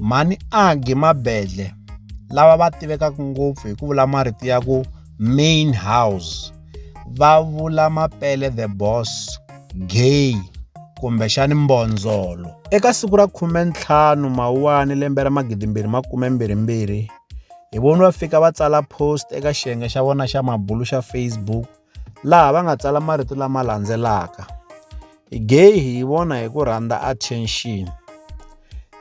Mhani Aggie Mabedle, lava va tivekaka ngopfu hi ku vula marito ya ku Main House, va vula Mapele the Boss, Gay kumbexana Mbondzolo. Eka siku ra 15 Mawuwani lembe ra 2022, hi voni va fika va tsala post eka xiyenge xa vona xa mabulu xa Facebook, laha va nga tsala marito lama landzelaka, Gay hi yi vona hi ku rhandza attention.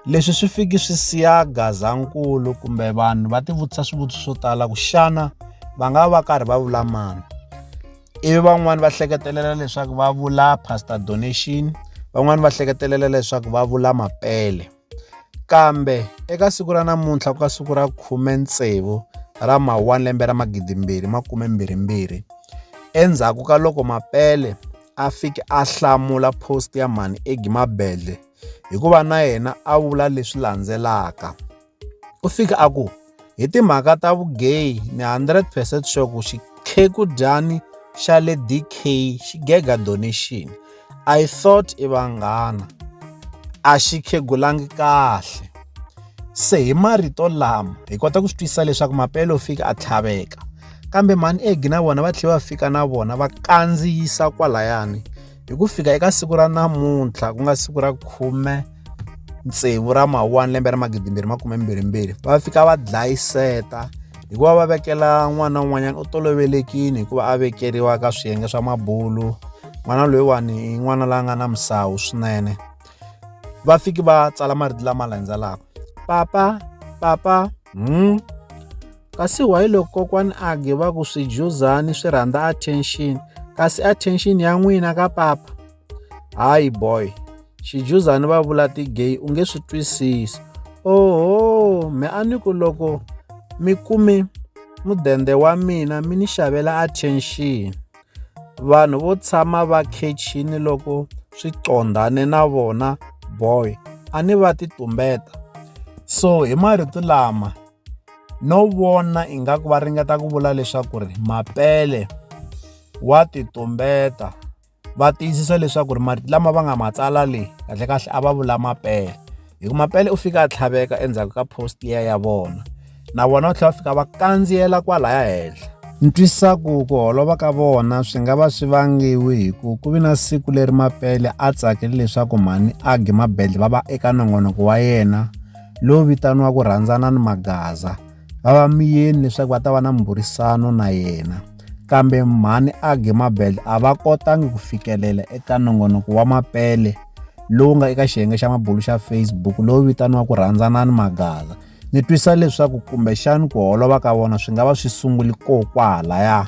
Leswi swi fiki swi siya Gazankulu kumbe vanhu va tivutisa swivutiso swo tala ku xana va nga va karhi va vula mani. Ivi van'wani va hleketelela leswaku va vula pastor donation van'wani va hleketelela leswaku va vula Mapele. Kambe eka siku ra namuntlha ku nga siku ra 16 ra Mawuwani lembe ra 2022, endzhaku ka loko Mapele a fike a hlamula post ya Mhani Eggy Mabedlhe hi ku va na yena a vula leswi landzelaka, U fike a ku, Hi timhaka ta vugeyi, ni 100 percent sure ku xikheku-dyani xa le DK xi gega donation. I thought i vanghana. A xi khegulangi kahle. Se hi marito lama, hi kota ku swi twisisa leswaku Mapelo u fike a tlhaveka. Kambe mhani Eggie na vona va tlhele va fika na vona va kandziyisa kwalayani. hi ku fika eka siku ra namuntlha ku nga siku ra khume tsevu ra mawani lembe ra magidimbirhi makume mbirhimbirhi va fika va dlayiseta hikuva va vekela n'wana un'wanyana u tolovelekini hikuva a vekeriwa ka swiyenge swa mabulu n'wana loyiwani i n'wana la nga na misawu swinene va fiki va tsala marito lama landzelaka papa papa hmm Kasi why loko kokwani Age va ku swidyuzani swi rhandza attention kasi attention ya n'wina ka papa? Hayi boy, xidyuzani va vula ti-gay u nge swi twisisi. Oho, me a ni ku loko mi kume mudende wa mina mi ni xavela attention. Vanhu vo tshama va khechini loko swi qondhane na vona boy a ni va ti tumbeta. So hi marito lama. no vona ingaku va ringeta ku vula leswaku ri Mapele wa ti tumbeta va tiyisisa leswaku ri marito lama va nga ma tsala le kahlekahle a va vula Mapele hi ku Mapele u fika a tlhaveka endzhaku ka post ya ya vona na vona va tlhela va fika va kandziyela kwalaya henhla ni twisisa ku ku holova ka vona swi nga va swi vangiwi hi ku ku vi na siku leri mapele a tsakele leswaku mhani age mabedle va va eka nongonoko wa yena lowu vitaniwaka Rhandzana ni Magaza va va miyeni leswaku va ta va na mburisano na yena kambe mhani Age Mabel a va kotangi ku fikelela eka nongonoko wa mapele lowu nga eka xiyenge xa mabulu xa Facebook lowu vitaniwaka Rhandzana ni Magaza ni twisa leswaku kumbexani ku holova ka vona swi nga va swi sunguli ko kwahalaya